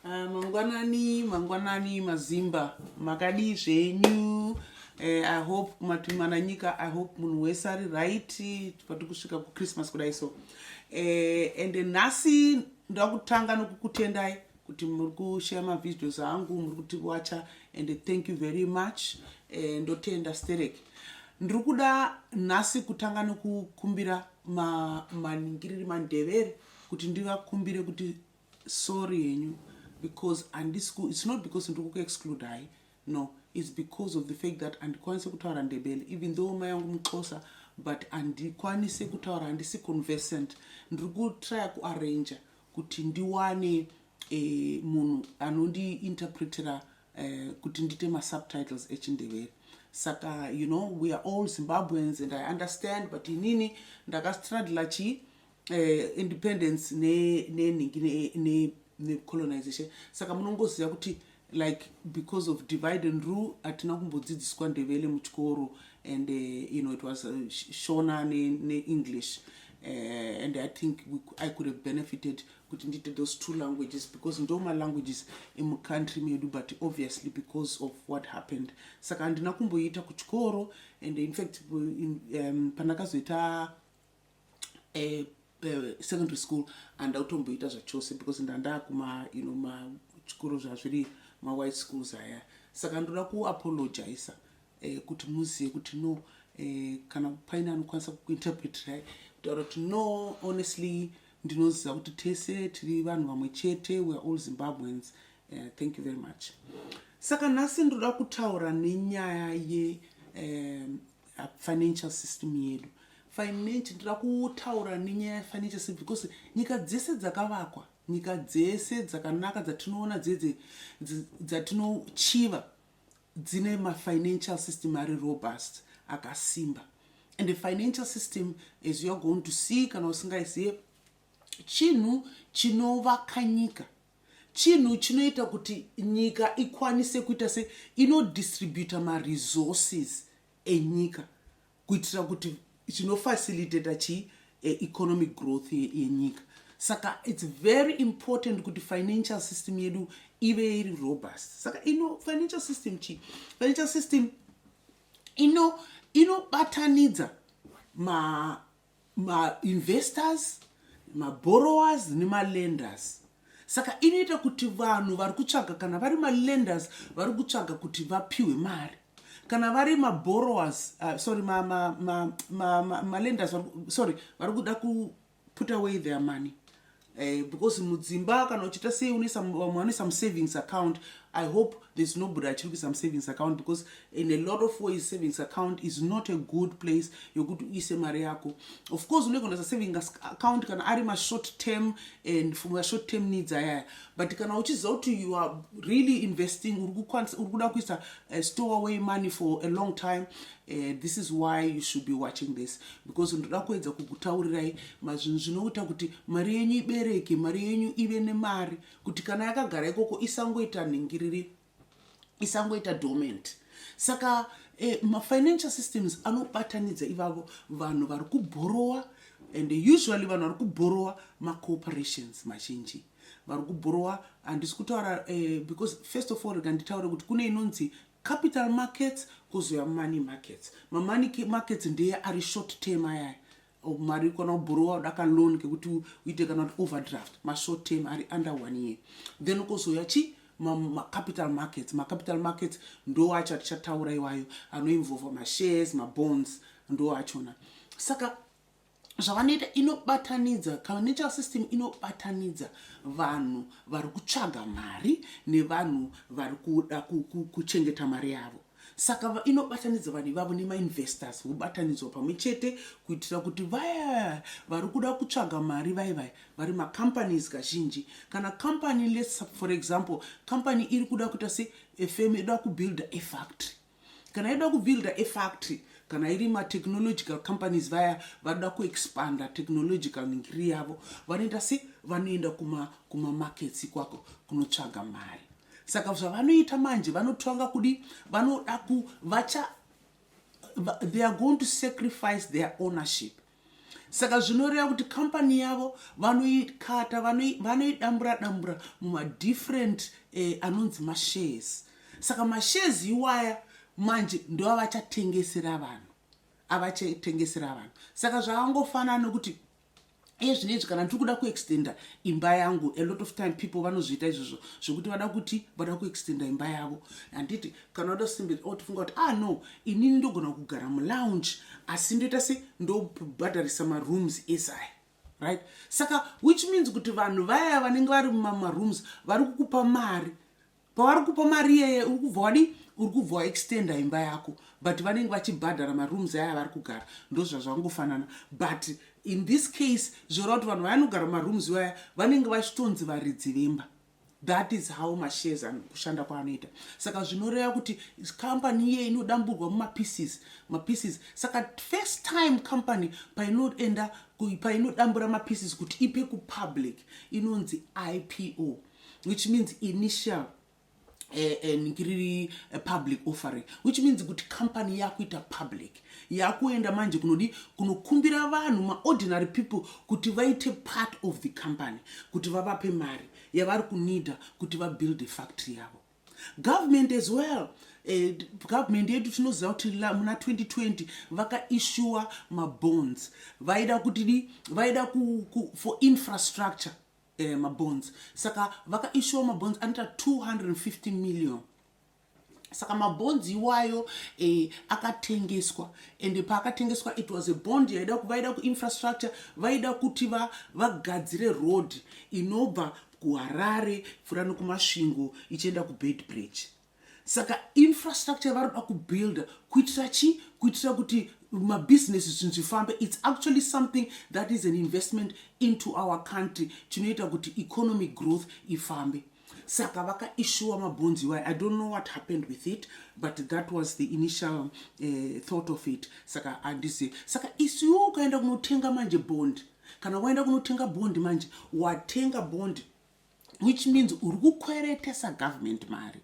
Ah, mangwanani mangwanani mazimba makadii zvenyu eh, i hope kumatumana nyika i hope munhu wese ari right pati kusvika kuchristmas kudai so eh, and nhasi ndakutanga nokukutendai kuti muri kushaya mavideos angu muri kuti wacha and thank you very much eh, ndotenda sterek ndiri kuda nhasi kutanga nokukumbira maningiriri mandevere kuti ndivakumbire kuti sorry henyu because andisi ku it's not because ndiri kuku exclude hai no it's because of the fact that andikwanise kutaura ndebele even though mai yangu muxosa but andikwanise kutaura handisi conversant ndiri kutrya kuarranger kuti ndiwane eh, munhu anondiinterpretera eh, kuti ndiite masubtitles echindebele saka you know we are all zimbabweans and i understand but inini ndakastradla chii eh, independence nenhingi ne, ne, necolonization ne saka munongoziva kuti like because of divide and rule hatina kumbodzidziswa ndevele muchikoro and uh, you know it was uh, shona neenglish ne uh, and i think we, i could have benefited kuti ndiite those two languages because ndo malanguages emucountry medu but obviously because of what happened saka handina kumboiita kuchikoro and infact in, um, pandakazoita eh, eh, secondary school handa kutomboita zvachose because ndandakuma you know machikoro zvazviri mawhite schools aya saka ndoda kuapologiza eh, kuti muzive kuti no eh, kana paine anokwanisa kukuinterpretirai kutaura kuti no honestly ndinoziva kuti tese tiri vanhu vamwe chete weare all zimbabweans uh, thank you very much saka nhasi ndinoda kutaura nenyaya ye um, financial system yedu financial ndira kutaura nenyaya yefinancial system because nyika dzese dzakavakwa nyika dzese dzakanaka dzatinoona dzedze dzatinochiva dzine mafinancial system ari robust akasimba and the financial system as youare going to see kana usingaizive chinhu chinovaka nyika chinhu chinoita kuti nyika ikwanise kuita se inodistributa maresources enyika kuitira kuti chinofacilitata chii eh, economic growth yenyika saka its very important kuti financial system yedu ive iri robust saka ino financial system chii financial system ino inobatanidza ma mainvestors maborrowers nemalenders saka inoita kuti vanhu vari kutsvaga kana vari malenders vari kutsvaga kuti vapiwe mari kana vari maborrowers uh, sorry malenders ma, ma, ma, ma sorry vari kuda kuputa away their money Eh, because mudzimba kana uchiita sei une vamwe vane some savings account i hope there's nobody achiri kuisa musavings account because in a lot of ways savings account is not a good place yokuti uise mari yako of course unenge unaisa saving account kana ari mashort term and for mashort term needs ayaya but kana uchiziva kuti you are really investing uri kuda kuisa eh, store away money for a long time Uh, this is why you should be watching this because ndoda kuedza kukutaurirai mazvinhu zvinoita kuti mari yenyu ibereke mari yenyu ive nemari kuti kana yakagara ikoko isangoita nhingiriri isangoita dormant saka eh, mafinancial systems anobatanidza ivavo vanhu vari kubhorowa and usually vanhu vari kubhorowa macooperations mazhinji vari kubhorowa handisi kutaura eh, because first of all rega nditaure kuti kune inonzi Capital markets kozouya money markets. Mamoney markets ndeye ari short term ayaya mari kana ubhorowa uda kaloan kekuti uite kana kuti overdraft mashort term ari under one year then kozouya chii macapital markets macapital markets ndo acho atichataura iwayo anoinvolva mashares mabonds ndo achona saka zvavanoita inobatanidza financial system inobatanidza vanhu vari kutsvaga mari nevanhu vari kuda kuchengeta mari yavo saka inobatanidza vanhu ivavo nemainvestors vobatanidzwa pamwe chete kuitira kuti vaya vari kuda kutsvaga mari vai vai vari macompanies kazhinji kana company lets for example company iri kuda kuita se efm ida kubuilda efactory kana aida kubuilda efactory kana iri matechnological companies vaya vada kuexpanda technological ngiri yavo vanoenda se vanoenda kumamarkets kuma ikwako kunotsvaga mari saka zvavanoita manje vanotanga kudi vanoda ku vacha they are going to sacrifice their ownership saka zvinoreva kuti company yavo vanoikata vanoidambura dambura mumadifferent eh, anonzi mashares saka mashares iwaya manje ndoavachatengesera vanhu avachatengesera vanhu saka zvakangofanana nokuti iye zvinezvi kana ndiri kuda kuextenda imba yangu a lot of time people vanozviita izvozvo zvekuti vada kuti vada kuextenda imba yavo handiti kana wada kusimbira otofunga kuti ah no inini ndogona kugara mulounge asi ndoita se ndobhadharisa marooms ese aya right saka which means kuti vanhu vaya vanenge vari mumarooms vari kukupa mari pavari kupa mari iyeye uri kubva wadii uri kubva waextenda imba yako but vanenge vachibhadhara marooms aya avari kugara ndozvazvangofanana but in this case zvoreva kuti vanhu vayanogara marooms vaya vanenge vachitonzi varidzi vemba That is how mashares ano kushanda kwaanoita saka zvinoreva kuti company iye inodamburwa mumapieces mapieces saka first time company painoenda painodambura mapieces kuti ipe kupublic inonzi ipo which means initial eh, eh, ngiriri eh, public offering which means kuti company yakuita public yakuenda manje kunodi kunokumbira vanhu maordinary people kuti vaite part of the company kuti vavape mari yavari kunida kuti vabuild a factory yavo government as well eh, government yedu tinoziva kuti muna 2020 vakaissuwa mabonds vaida kutidi vaida ku, ku, for infrastructure eh, mabonds saka vakaissuwa mabonds anoita 250 million saka mabonds iwayo eh, akatengeswa and paakatengeswa it was a bond yaida vaida kuinfrastructure vaida kuti vagadzire va road inobva kuharare pfuura nokumasvingo ichienda kubed bridge saka infrastructure yavari kuda kubuilda kuitira chii kuitira kuti mabusiness zvinhu zvifambe its actually something that is an investment into our country chinoita kuti economic growth ifambe saka vakaishuwa mabhonzi iwayo i don't know what happened with it but that was the initial uh, thought of it saka handizivi saka isiwo ukaenda kunotenga manje bond kana waenda kunotenga bond manje watenga bond which means uri kukweretesa government mari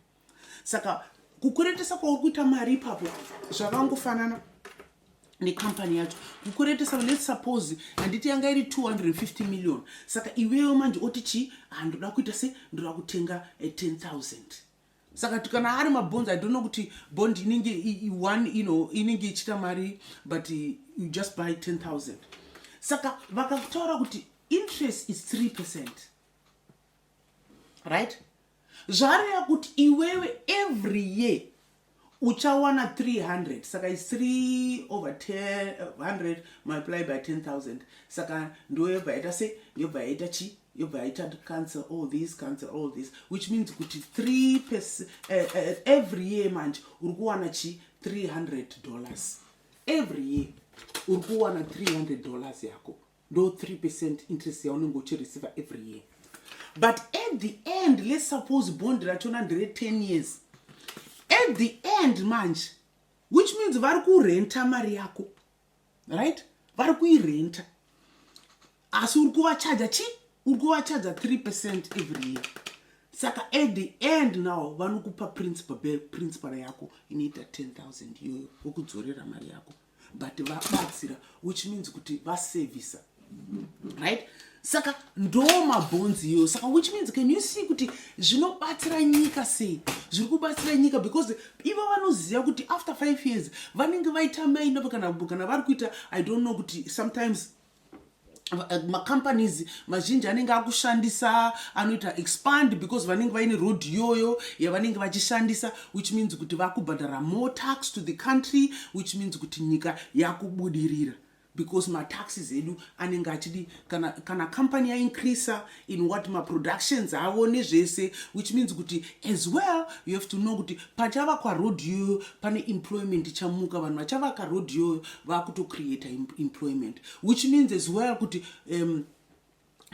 saka kukweretesa kwauri kuita mari ipapo zvakangofanana necompany yacho kukuretesa let's suppose handiti yanga iri 250 million saka iweyo manje oti chii handoda ah, kuita se ndoda kutenga 10000 eh, saka kana ari mabonds i don't know kuti bond inenge one you know inenge ichita mari but eh, you just buy 10000 saka vakataura kuti interest is 3 percent right zvareva kuti iwewe every year uchawana 300 saka is 3 over 100 multiply by 10000 saka ndo yobva yaita se yobva yaita chi yobva yaita cancel all this cancel all this which means kuti 3 pes, uh, uh, every year manje uri kuwana chi 300 dollars every year uri kuwana 300 dollars yako ndo 3 percent interest yaunenge uchireceiva every year but at the end let's suppose bond rachona ndere 10 years at the end manje which means vari kurenta mari yako right vari kuirenta asi uri kuvachaja chi uri kuvachaja 3 percent every year saka at the end now vanokupa principal principal yako inoita 10 000 iyoyo vokudzorera mari yako but vabatsira which means kuti vasevhisa right saka ndo mabhonzi iyoyo saka which means can you see kuti zvinobatsira nyika sei zviri kubatsira nyika because ivo vanoziva kuti after five years vanenge vaita maina kana vari kuita i don't know kuti sometimes Eh, macompanies mazhinji anenge akushandisa anoita expand because vanenge vaine road iyoyo yavanenge vachishandisa which means kuti vakubhadhara more tax to the country which means kuti nyika yakubudirira because mataxes edu anenge achidi kana, kana company yaincreasa in what maproductions avo nezvese which means kuti as well you have to know kuti pachavakwa road yoyo pane employment ichamuka vanhu vachavaka road yoyo vakutocreata employment which means as well kuti um,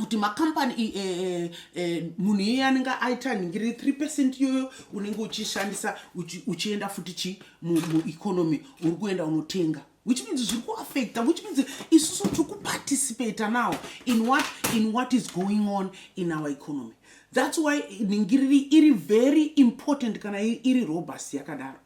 kuti macompany eh, eh, eh, munhu iye anenge aita nhingiri 3 percent iyoyo unenge uchishandisa uchienda futi chi mueconomy uri kuenda unotenga which means zviri kuaffecta which means isusu tiri kuparticipata now in what, in what is going on in our economy thats why ningiriri iri very important kana iri robust yakadaro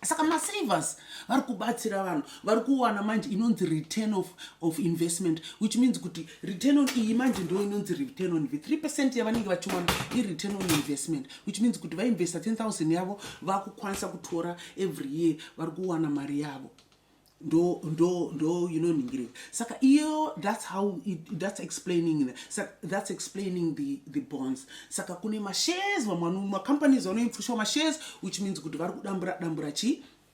saka masavers vari kubatsira vanhu vari kuwana manje inonzi return of, of investment which means kuti return on iyi manje ndo inonzi return on ive 3 percent yavanenge vachiwana ireturn on investment which means kuti vainvesta 10000 yavo vakukwanisa kutora every year vari kuwana mari yavo ndo ndo ndo inoningirika saka iyo that's how it, that's explaining the, saka, that's explaining the, the bonds saka kune mashares vamwe macompanies vanoipfushwa mashares which means kuti vari kudambura dambura chii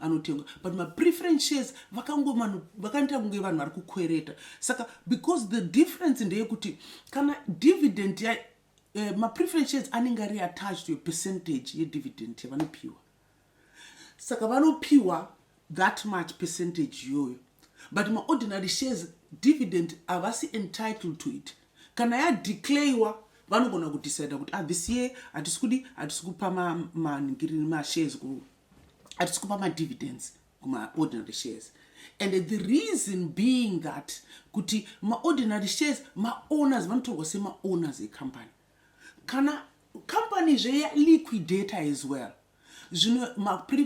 anotengwa but mapreference shares vakangomanhu vakandiita kunge vanhu vari kukwereta saka because the difference ndeyekuti kana dividend ya eh, mapreference shares anenge ari attached to a percentage yedividend yavanopiwa saka vanopiwa that much percentage iyoyo but maordinary shares dividend havasi entitled to it kana yadeclarewa vanogona kudecida kuti ah, this year hatisi kudi hatisi kupa maningiri mashares hatisi kupa madividends kumaordinary shares and the reason being that kuti maordinary shares maowners vanotorwa semaowners ecompany kana company zveya liquidata as well zvino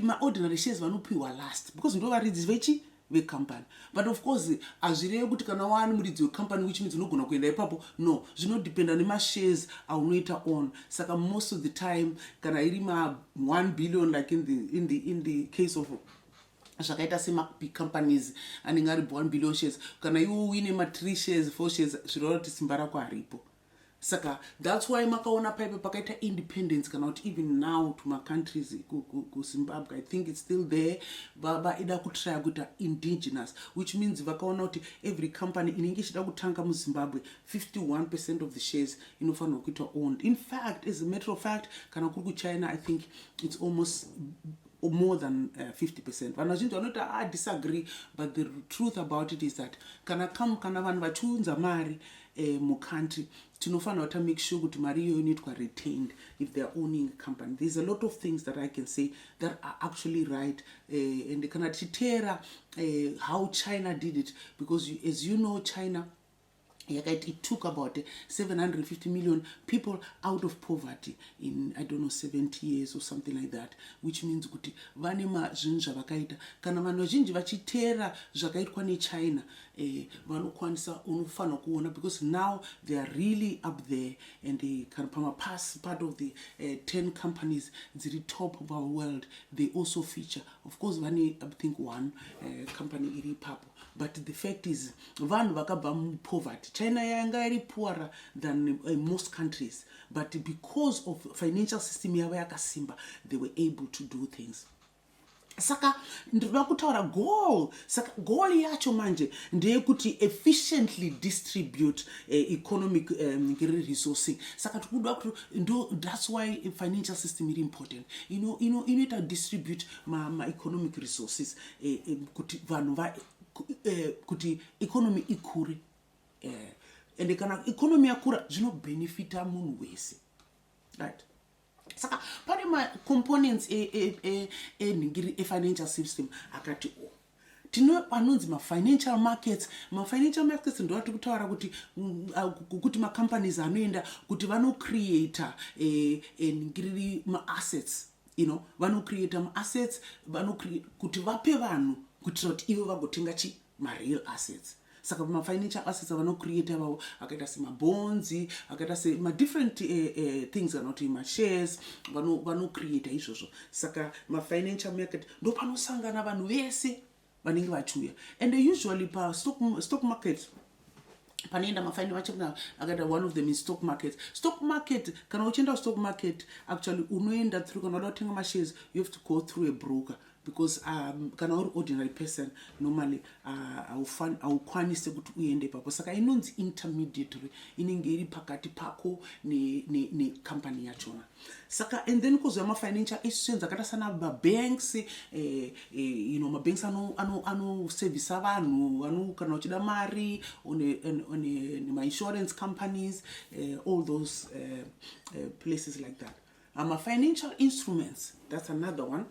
maordinary shares vanopiwa last because ndovaridzisi vechi vecompany but of course hazvireve kuti kana waani muridzi wecompany which means unogona kuenda ipapo no zvinodependa nemashares aunoita on saka most of the time kana iri ma 1 billion like in the, in the, in the case of zvakaita semabig companies anenge ari 1 billion shares kana iwo uine ma 3 shares 4 shares zvinoreva kuti simba rako haripo saka thats why makaona paipe pakaita independence kana kuti even now to macountries kuzimbabwe i think its still there vaida kutraya kuita indigenous which means vakaona kuti every company inenge ichida kutanga muzimbabwe 51 percent of the shares inofanirwa kuita owned in fact as a matter of fact kana kuri kuchina i think its almost more than uh, 50 percent vanhu vazhinji vanoti a ah, disagree but the truth about it is that kana kam kana vanhu vachiunza mari eh, mucountry tinofanira kuta make sure kuti mari iyoyo inoitwa retained if theyare owning company thereis a lot of things that i can say that are actually right uh, and kana tichiteera uh, how china did it because you, as you know china yakaiti it took about 750 million people out of poverty in i don't know 70 years or something like that which means kuti vane mazvinhu zvavakaita kana vanhu vazhinji vachiteera zvakaitwa nechina eh, vanokwanisa unofanira kuona because now they are really up there and they kana pamapasi part of the uh, eh, 10 companies dziri top of our world they also feature of course vane i think one uh, company iri ipapo but the fact is vanhu vakabva mupoverty china yanga iri poorer than uh, most countries but because of financial system yavo yakasimba they were able to do things saka ndinoda kutaura goal saka goal yacho manje ndeyekuti efficiently distribute uh, economic um, resourcing saka tikuda kuti ndo that's why financial system iri important inoita ino, ino, ino distribute maeconomic ma resources uh, uh, kuti vanhu va uh, kuti economy ikure uh, ende kana economy yakura zvinobenefita munhu wese right saka pane macomponents enhingiri e, e, e, efinancial system akati o tino anonzi mafinancial markets mafinancial markets ndo atiri kutaura kuti mm, kuti macompanies anoenda kuti vanocreata nhingiriri maassets you know vanocreata maassets kuti vape vanhu kuitira kuti ivo vagotenga chii mareal assets saka pamafinancial assets avanocreate avavo akaita semabhonzi akaita semadifferent uh, eh, uh, eh, things kana kuti mashares vanocreata izvozvo saka mafinancial market ndo panosangana vanhu vese vanenge vachiuya and usually pastock market panoenda mafaini vachina akaita one of them is stock market stock market kana uchienda kustock market actually unoenda through kana uda kutenga mashares you have to go through a broker because um, kana uri ordinary person normally uh, haukwanise uh, kuti uende ipapo saka inonzi intermediatory inenge iri pakati pako necompany ne, ne yachona saka and then kuzouya mafinancial institutions akaita sana mabanks eh, eh, you know mabanks anosevhisa ano, ano vanhu kana uchida mari nemainsurance companies eh, all those eh, eh, places like that uh, mafinancial instruments that's another one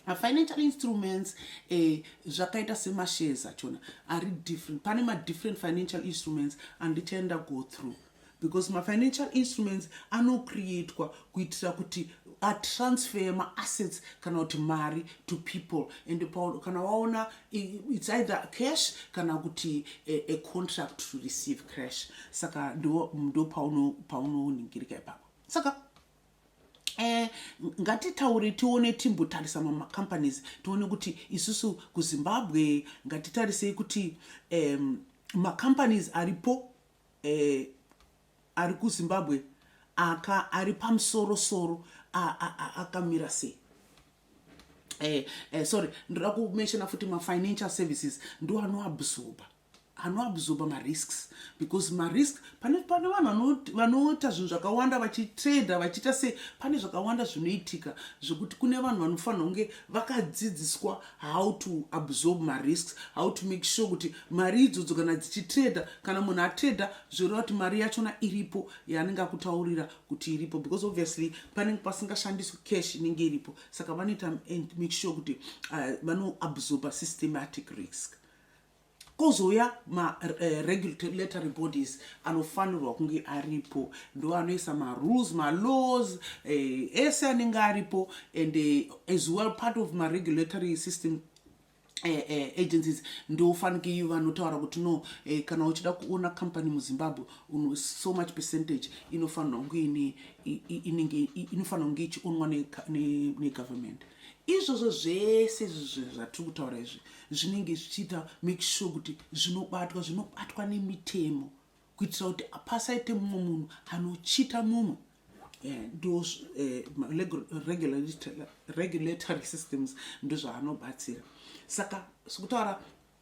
mafinancial instruments eh, zvakaita eh, semashares achona ari different pane madifferent financial instruments andichaenda go through because mafinancial instruments anocreatwa kuitira kuti atransfer maassets kana kuti mari to people and kana waona its either cash kana kuti a, a contract to receive cash saka ndo, ndo paunoningirika ipapo saka Eh, ngatitaure tione timbotarisa mamacompanies tione kuti isusu kuzimbabwe ngatitarisei kuti um, macompanies aripo eh, ari kuzimbabwe aka ari pamusoro soro akamira sei eh, eh, sorry ndoda kumenshona futi mafinancial services ndo anoabsorba anoabsorba marisks because marisk pane pane vanhu vanoita zvinhu zvakawanda vachitrader vachiita se pane zvakawanda zvinoitika zvekuti kune vanhu vanofanira kunge vakadzidziswa how to absorb marisks how to make sure kuti mari idzodzo kana dzichitrader kana munhu atrader zvoreva kuti mari yachona iripo yaanenge akutaurira kuti iripo because obviously panenge pasingashandiswi cash inenge iripo saka vanoita and make sure kuti uh, vanoabsorba systematic risk kozouya ma eh, regulatory bodies anofanirwa kunge aripo ndo anoisa marules malaws eh, ese anenge aripo and eh, as well part of maregulatory system Eh, eh, agencies ndofanike iyo vanotaura kuti no eh, kana uchida kuona company muzimbabwe uno so much percentage inofanirwa kunge ine inenge inofanirwa kunge ichionwa negovernment ne, ne Izvozvo zvese izvi zvatiri kutaura izvi zvinenge zvichiita make sure kuti zvinobatwa zvinobatwa nemitemo kuitira kuti pasaite mumwe munhu anochita mumwe eh, those eh, regulatory systems ndozvaanobatsira saka sikutaura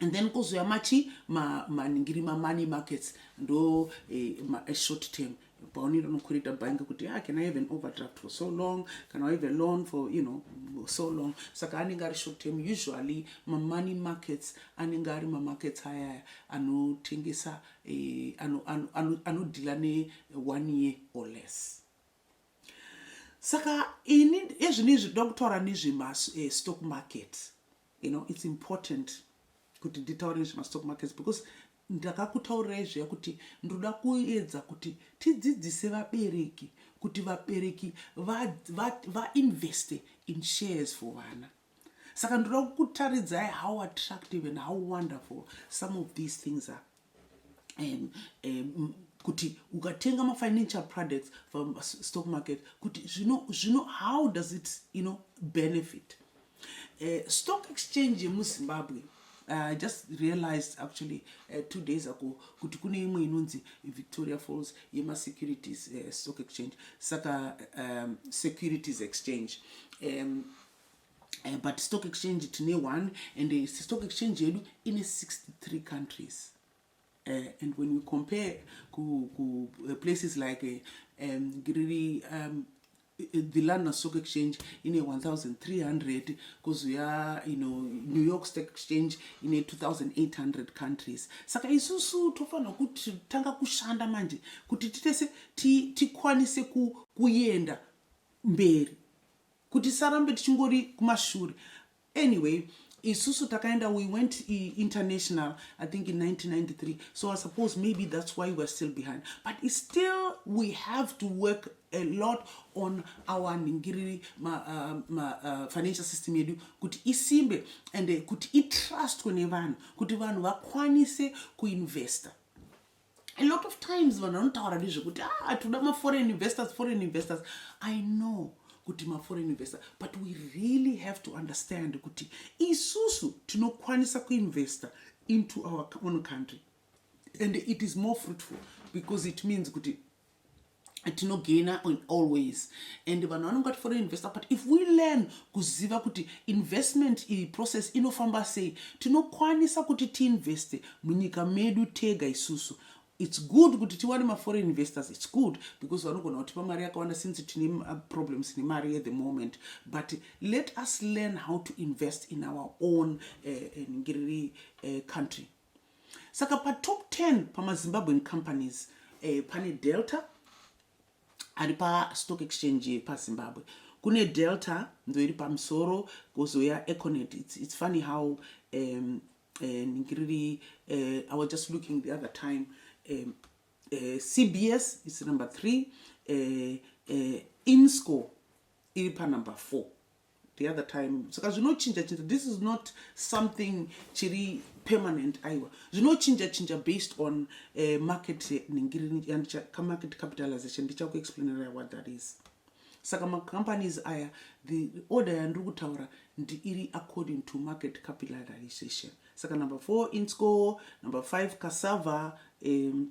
and then kuzouya machi maningiri ma, mamoney markets ndo eh, ma, eh, short term paunenge unokurita bhangi kuti ah, can i have an overdraft for so long can i have a loan for you know so long saka anenge ari short term usually mamoney markets anenge ari mamarkets ayaya anotengesa eh, anodhila ano, ano, ne one year or less saka ini ezvino izvi ndoda kutaura nezvemastock eh, market You know, it's important kuti nditaure nezvemastock markets because ndakakutaurirai zviya kuti ndoda kuedza kuti tidzidzise vabereki kuti vabereki vainveste va, va in shares for vana saka ndoda kukutaridzai how attractive and how wonderful some of these things are um, um, kuti ukatenga mafinancial products from stock market kuti zvino zvino how does it you know benefit uh, stock exchange yemuzimbabwe Uh, just realized actually uh, two days ago kuti kune imwe inonzi victoria falls yemasecurities uh, stock exchange saka um, securities exchange um, eh, but stock exchange tine one and eh, stock exchange yedu ine 63 countries uh, and when we compare ku, ku uh, places like uh, um, riri um, the london stock exchange ine 1300 kozuya you know, new york stock exchange ine 2800 countries saka isusu tofanira kuti tanga kushanda manje kuti titese tikwanise ku, kuenda mberi kuti tisarambe tichingori kumashure anyway isusu takaenda we went international i think in 1993 so i suppose maybe that's why weare still behind but it's still we have to work a lot on our ningiriri uh, uh, financial system yedu kuti isimbe and uh, kuti itrustwe nevanhu kuti vanhu vakwanise kuinvesta a lot of times vanhu vanotaura nezvekuti ah, hatoda maforeign investors foreign investors i know kuti maforeign investor but we really have to understand kuti isusu tinokwanisa kuinvesta into our own country and it is more fruitful because it means kuti tinogaina on all ways and vanhu vanonge vati foreign investor but if we learn kuziva kuti investment iyi process inofamba sei tinokwanisa kuti tiinveste munyika medu tega isusu its good kuti tiwane maforeign investors its good because vanogona kutipa mari yakawanda since tine uh, problems nemari at the moment but let us learn how to invest in our own uh, uh, ngiriri uh, country saka patop 10 pamazimbabwean companies eh, pane delta ari pastock exchange yepazimbabwe kune delta ndo iri pamusoro kuzouya econet it's, it's funny how um, eh, ngiriri uh, eh, i was just looking the other time um, uh, eh, cbs is number three uh, uh, insco iri panumber four the other time saka zvinochinja chinja this is not something chiri permanent aiwa zvinochinja chinja based on uh, market eh, ningiri yandichamarket capitalization ndichakuexplainera what that is saka macompanies aya the order yandiri kutaura ndiiri according to market capitalization saka number four insco number five cassava um,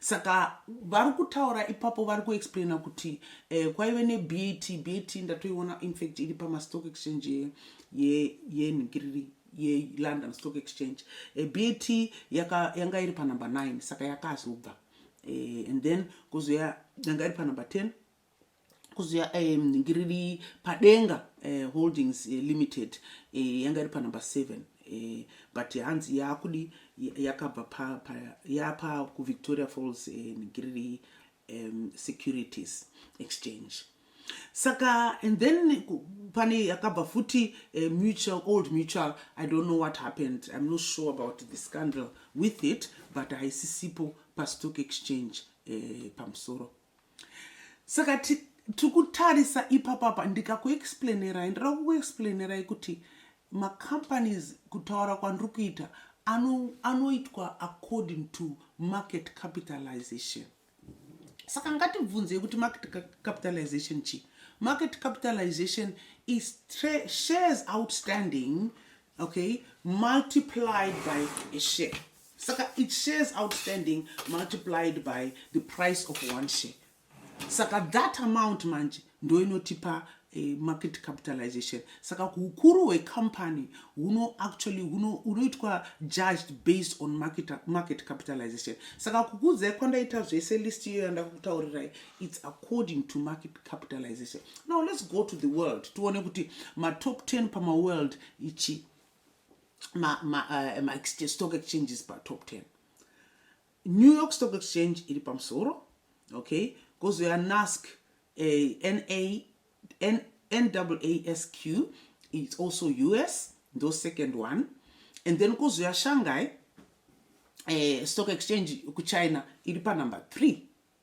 Saka vari kutaura ipapo vari kuexplaina kuti eh, kwaive neBAT, BAT ndatoiona infact iri pamastock exchange yenhingiriri ye, ye yelondon stock exchange e, eh, bat yaka, yanga iri panumber 9 saka yakazobva e, and then kuzouya yanga iri panumber 10 kuziva um, riri padenga uh, holdings uh, limited uh, yanga iri panumber seven uh, but hanzi yakudi yakabva pa, pa, yapa kuvictoria falls um, riri um, securities exchange saka and then pane yakabva futi uh, mutual old mutual i don't know what happened i'm not sure about the scandal with it but haisisipo pastock exchange uh, pamusoro saka tiri kutarisa ipapapa ndikakuexplainerai ndira kukuexplainerai kuti macompanies kutaura kwandiri kuita anoitwa ano according to market capitalization saka ngatibvunzei kuti market capitalization chii market capitalization is shares outstanding okay multiplied by a share saka it shares outstanding multiplied by the price of one share saka that amount manje ndoinotipa eh, market capitalization saka hukuru hwecompany huno actually hunoitwa judged based on market, market capitalization saka kukudzai kwandaita zvese list iyo yandakutaurirai its according to market capitalization now let's go to the world tione kuti matop 10 pamaworld ichi mastock eh, exchanges patop 10 new york stock exchange iri pamusoro okay kozoya nask eh, nasq its also us ndo second one and then kozoya shanghai eh, stock exchange kuchina iri panumber three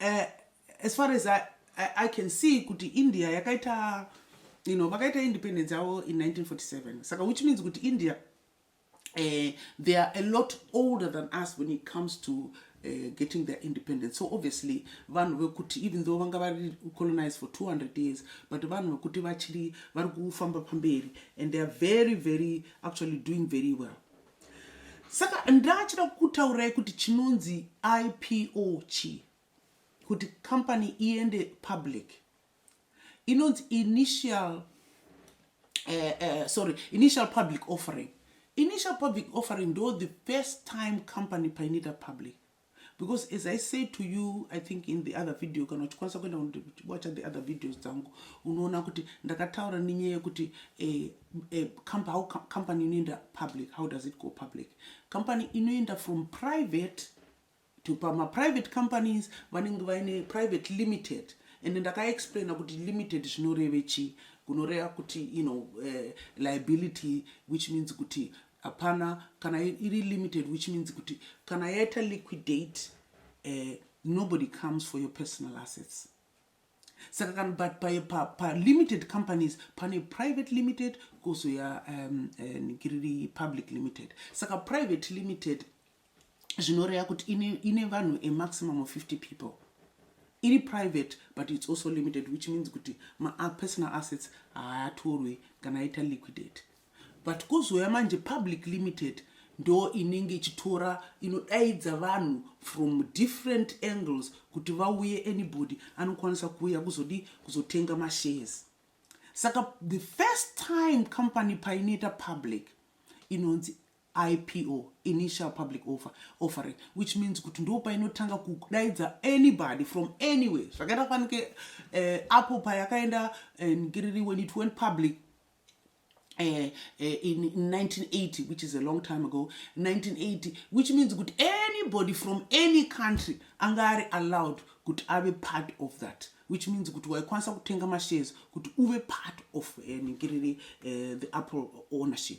uh, as far as I, I, I can see kuti india yakaita you know vakaita independence yavo in 1947 saka which means kuti india uh, they are a lot older than us when it comes to uh, getting their independence so obviously vanhu vekuti even though vanga vari colonized for 200 years but vanhu vekuti vachiri vari kufamba pamberi and they are very very actually doing very well Saka ndachida kutaura kuti chinonzi IPO chi kuti company iende public inonzi initial uh, uh, sorry initial public offering initial public offering ndo the first time company painoita public because as i say to you i think in the other video kana uchikwanisa kuenda kunowacha the other videos dzangu unoona kuti ndakataura nenyaya yekuti eh, eh, how company inoenda public how does it go public company inoenda from private to pamaprivate companies vanenge vaine private limited and ndakaexplaina kuti limited zvinoreve chii kunoreva kuti you know uh, liability which means kuti hapana kana iri limited which means kuti kana yaita liquidate uh, nobody comes for your personal assets saka kana but pa, pa, pa limited companies pane private limited kozoya um, uh, eh, public limited saka private limited zvinoreya kuti ine, ine vanhu a maximum of 50 people iri private but its also limited which means kuti mapersonal assets haatorwe kana aita liquidate but kozouya manje public limited ndo inenge ichitora inodaidza vanhu from different angles kuti vauye anybody anokwanisa kuuya kuzodii kuzotenga mashares saka the first time company painoita public inonzi IPO, Initial Public Offer, Offering, which means kuti ndo painotanga kudaidza anybody from anywhere zvakaita fanike eh, apo payakaenda eh, ngiriri when it went public Eh, eh, in, in 1980 which is a long time ago 1980 which means kuti anybody from any country anga ari allowed kuti ave part of that which means kuti waikwanisa kutenga mashares kuti uve part of eh, ningiriri eh, the apple ownership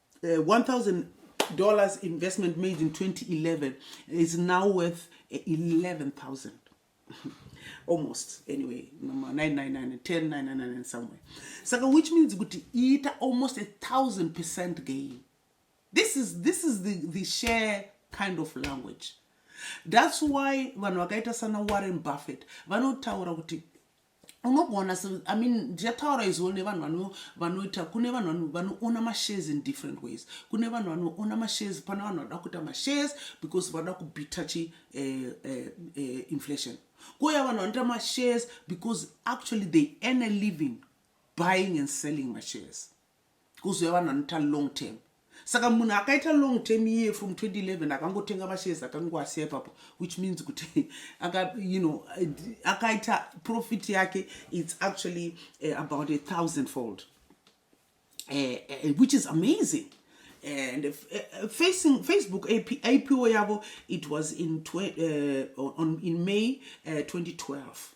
uh, 1000 dollars investment made in 2011 is now worth 11000 almost anyway 999 10 999 somewhere saka which means kuti iita almost a thousand percent gain this is this is the, the share kind of language that's why vanhu vakaita sana warren buffett vanotaura kuti unogona i mean ndichataura izvo nevanhu vanoita kune vanhu vanoona mashares in different ways kune vanhu vanoona mashares pana vanhu vanoda kuita mashares because vanoda kubita chi eh, eh, eh, inflation koya vanhu vanoita mashares because actually they earn a living buying and selling mashares kuziva vanhu vanoita long term saka munhu akaita long term iye from 2011 akangotenga mashares akangoasiya ipapo which means kuti you know akaita profit yake its actually uh, about a thousand fold uh, uh, which is amazing and uh, uh, facing facebook AP, ipo yavo it was in, uh, on, in may uh, 2012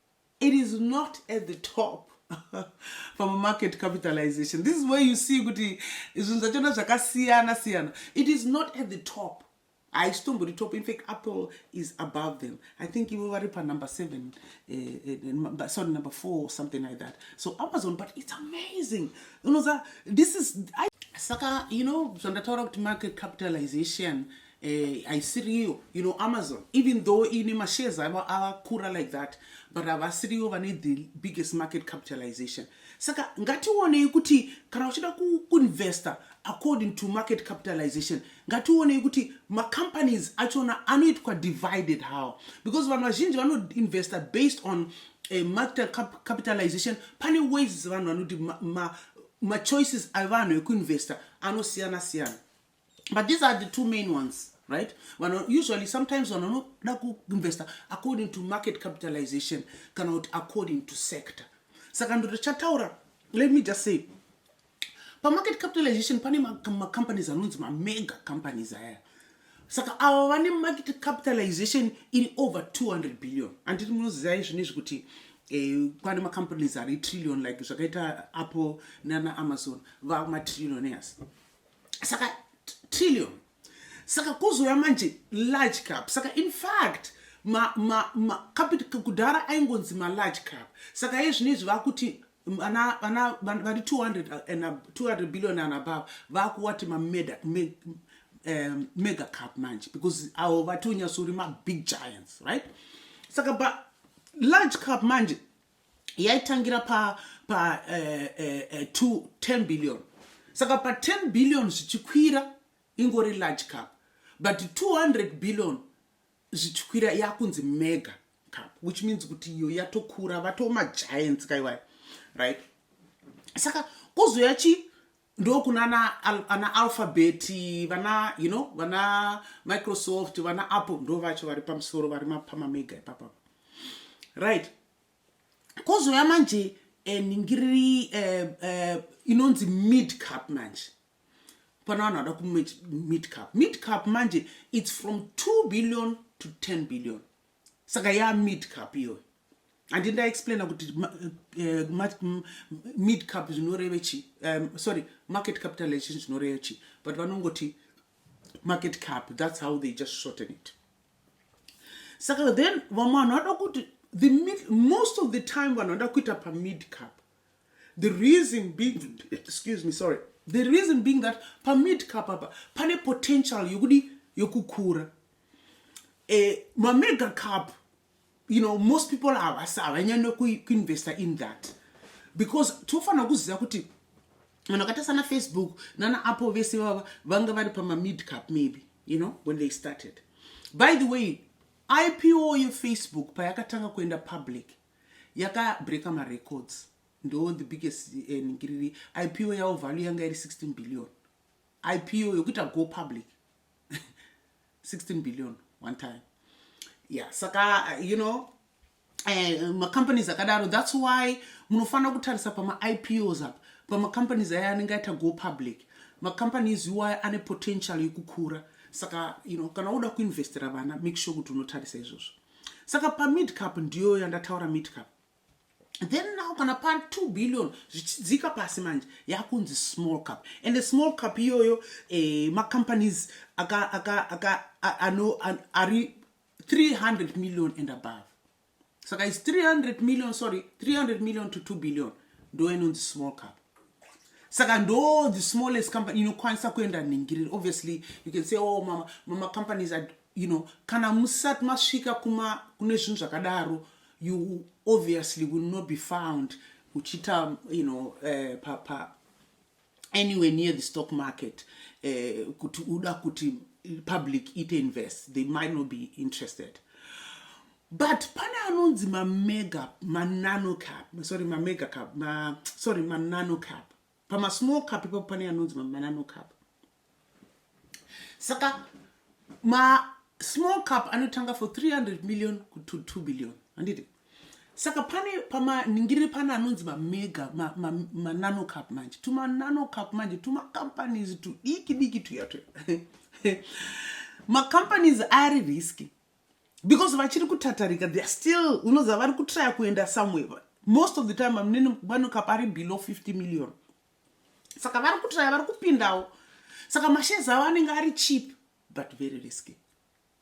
it is not at the top from market capitalization this is where you see kuti zvinhu zvachona zvakasiyana siyana it is not at the top haisitombori top infact apple is above them i think ivo vari panumber seven uh, uh, sorry number four something like that so amazon but it's amazing unoza this is I, saka you know zvandataura kuti market capitalization eh, haisiriyo you know amazon even though iine mashares avo avakura like that but havasiriyo vane the biggest market capitalization saka ngationei kuti kana uchida kuinvesta according to market capitalization ngationei kuti macompanies achona anoitwa divided how because vanhu vazhinji vanoinvesta based on uh, market cap capitalization pane ways vanhu vanoti machoices ma, ma avanhu ekuinvesta anosiyana siyana but these are the two main ones right vano usually sometimes vanhu vanoda kuinvesta according to market capitalization kana kuti according to sector saka ndoto chataura let me just say pamarket capitalization pane macompanies anonzi mamega companies aya saka avo vane market capitalization iri over 200 billion anditi munoziva izvino izvi kuti eh, kwane macompanies ari trillion like zvakaita apple nana amazon vava matrillion yasi saka trillion saka kuzouya manje large cap saka in fact kudhara aingonzi malarge cap saka iye zvino izvi vakuti vari 200 billion and above vakuwati mamega um, cap manje because avo vati unyasouri mabig giants right saka ba large cap manje yaitangira pa, pa uh, uh, uh, to 10 billion saka pa 10 billion zvichikwira ingori large cup but 200 billion zvichikwira yakunzi mega cup which means kuti iyo yatokura vatoma giants kaiwayo right saka kuzouya chi ndokunana al, ana alphabet vana you know vana microsoft vana apple ndo vacho vari pamusoro vari mapamamega ipapapa right kozouya manje eh, ningiriri uh, eh, uh, eh, inonzi mid cup manje pana vanhu vada kumid cup mid cup manje its from 2 billion to 10 billion saka ya mid cup iyoyo handi ndaexplaina kuti uh, mid cup zvinoreve chi um, sorry market capitalization zvinoreve chi but vanongoti market cup that's how they just shorten it saka then vamwe vanhu vada kuti the mid, most of the time vanhu vada kuita pamid cup the reason being excuse me sorry the reason being that pamid cup apa pane potential yokudi yokukura eh, mamega cup you know most people havasi havanyanya kuinvesta in that because tofanira kuziva kuti vanhu vakaita sana facebook nana apple vese vava vanga vari pamamid cup maybe you know when they started by the way ipo yefacebook payakatanga kuenda public yaka breaker ma records ndo the biggest eh, ningiriri ipo yavo value yanga iri 16 billion ipo yokuita go public 16 billion one time yeah saka uh, you know eh, macompanies akadaro that's why munofanira kutarisa pamaipos apa pamacompanies aya anenge aita go public macompanies iwaya ane potential yekukura saka you know kana woda kuinvestera vana make sure kuti unotarisa izvozvo saka pamidcap ndiyo yandataura midcap then now kana pa 2 billion zvichidzika pasi manje yakunzi small cup and the small cup iyoyo eh, macompanies aka, aka, aka, ano, an, ari 300 million and above saka is 300 million sorry 300 million to 2 billion ndo inonzi small cup saka ndo the smallest company inokwanisa kuenda ningiriri obviously you can say oh mama, mama companies are You know, kana musati masvika kuma kune zvinhu zvakadaro you obviously will not be found uchiita you know, uh, pa, pa anywhere near the stock market eh, kuti uh, uda kuti public it invest they might not be interested but pane anonzi mamega mananocap sorry mamega cap ma, sorry mananocap pamasmall cup ipapo pane anonzi mamanano cup saka masmall cup anotanga for 300 million to 2 billion handiti saka pane pamaningirire pane anonzi mamega manano cup manje tumanano cup manje tumacompanies tudiki diki tuya tuya macompanies ari riski because vachiri kutatarika theyare still unoziva vari kutraya kuenda somewhere most of the time vamunini vanokapa ari below 50 million saka vari kutraya vari kupindawo saka mashezi avo anenge ari cheap but very risky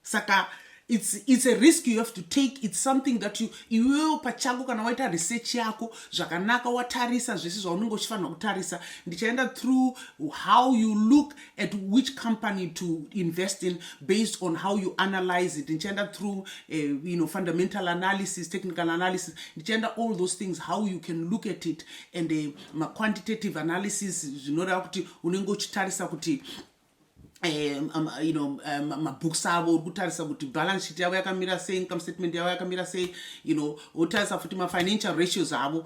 saka it's, it's a risk you have to take it's something that you iwewo pachako kana waita research yako zvakanaka watarisa zvese zvaunenge uchifanira kutarisa ndichaenda through how you look at which company to invest in based on how you analyze it ndichienda through uh, you know, fundamental analysis technical analysis ndichienda all those things how you can look at it and uh, eh, maquantitative analysis zvinoreva kuti unenge uchitarisa kuti Um, um, you know um, mabooks avo uri kutarisa kuti balance sheet yavo yakamira sei income statement yavo yakamira sei you know wotarisa futi mafinancial ratios avo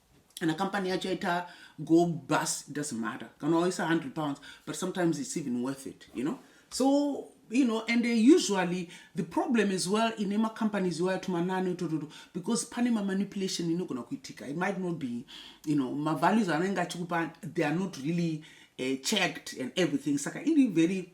kana company yacho yaita go bus doesn't matter kana waisa 100 pounds but sometimes it's even worth it you know so you know and they usually the problem as well in ema companies iwaya tumanani utototo because pane mamanipulation inogona kuitika it might not be you know mavalues anenge achikupa they are not really uh, checked and everything saka iri very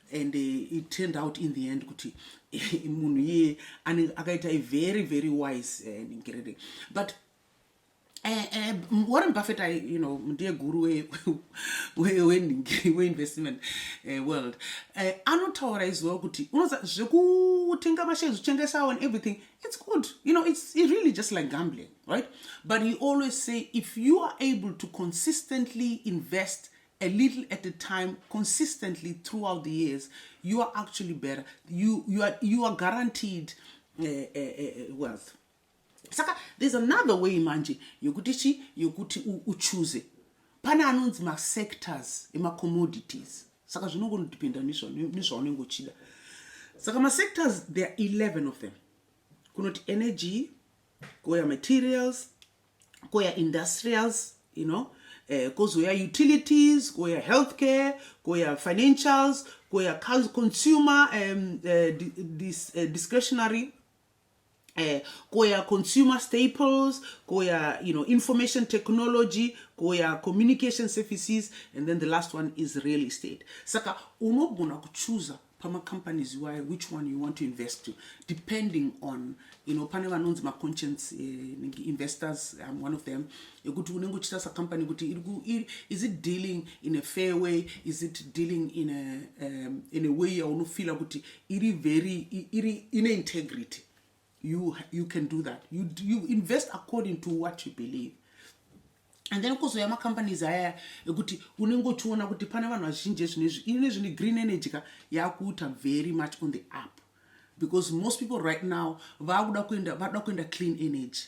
and uh, it turned out in the end kuti munhu iye akaita a very very wise uh, ningiriri but Eh, eh, warren buffett i you know ndiye guru weinvestment eh, world eh, anotaura iziva kuti unoza zvekutenga mashares uchengesawo and everything it's good you know it's, it's really just like gambling right but he always say if you are able to consistently invest a little at a time consistently throughout the years you are actually better you, you, are, you are guaranteed uh, uh, uh, wealth saka there's another way manje yokuti chi yokuti uchuze pane anonzi masectors emacommodities saka zvinongonodependa nezvaunenge uchida saka masectors there are 11 of them kunoti energy kouya materials kouya industrials you know eh, kozouya utilities kouya healthcare kouya financials kouya consumer um, uh, dis, uh, discretionary Eh, koya consumer staples koya you know information technology koya communication services and then the last one is real estate saka unogona kuchuza pamacompanies iwayo which one you want to invest to depending on you know pane vanonzi maconscience uh, investors um, one of them yekuti unenge uchitarisa company kuti is it dealing in a fair way is it dealing in a, um, in a way yaunofila kuti iri very iri ine integrity you, you can do that you, you invest according to what you believe and then kuzouya macompanies aya ekuti unenge uchiona kuti pane vanhu vazhinji ezvinezvi ine zvine green energy ka yakuita very much on the up because most people right now vakuda kuenda vakuda kuenda clean energy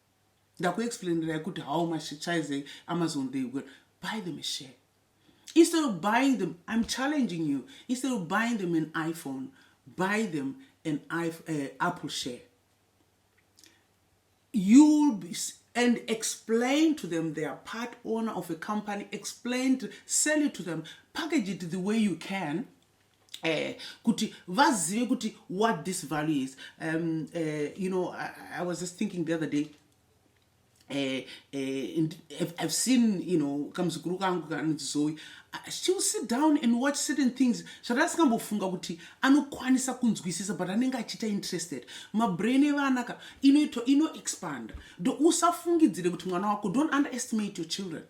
ndakuexplainerai kuti how much chaize amazon they will buy them a share instead of buying them i'm challenging you instead of buying them an iphone buy them an uh, apple share you'll be and explain to them they are part owner of a company explain to sell it to them package it the way you can Eh, kuti vazive kuti what this value is um, uh, you know I, i was just thinking the other day uh, uh, and I've, I've seen you know kamuzukuru kangu kanonzi zoe she'll sit down and watch certain things zvatasingambofunga kuti anokwanisa kunzwisisa but anenge achiita interested mabrain evana ka inoitwa inoexpanda do usafungidzire kuti mwana wako don't underestimate your children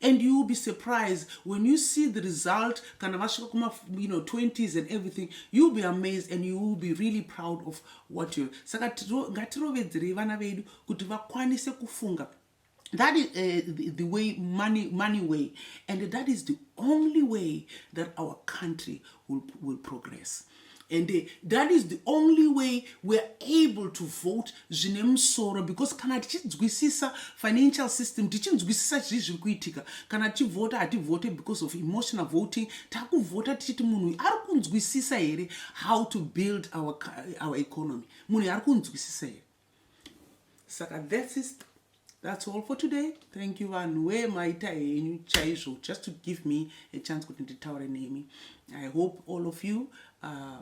and you will be surprised when you see the result kana vasvika kuma you know 20s and everything you will be amazed and you will be really proud of what you saka ngatirovedzerei vana vedu kuti vakwanise kufunga that is uh, the, the way money money way and that is the only way that our country will, will progress and eh, that is the only way weare able to vote zvine musoro because kana tichinzwisisa financial system tichinzwisisa chii zviri kuitika kana tichivhota hativhote because of emotional voting takuvhota tichiti munhu uyu ari kunzwisisa here how to build our, our economy munhu uyu ari kunzwisisa here saka that's it that's all for today thank you vanhu wee maita henyu chaizvo just to give me a chance kuti nditaure nemi i hope all of you uh,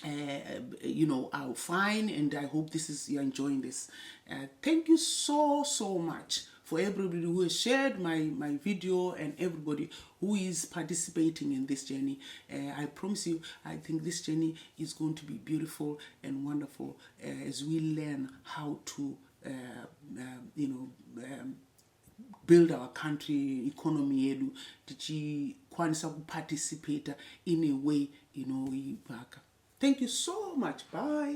Uh, you know are fine and i hope this is you're enjoying this uh, thank you so so much for everybody who has shared my, my video and everybody who is participating in this journey. Uh, I promise you, I think this journey is going to be beautiful and wonderful. uh, as we learn how to uh, um, you know um, build our country economy yedu tichikwanisa kuparticipata in a way inoivaka thank you so much bye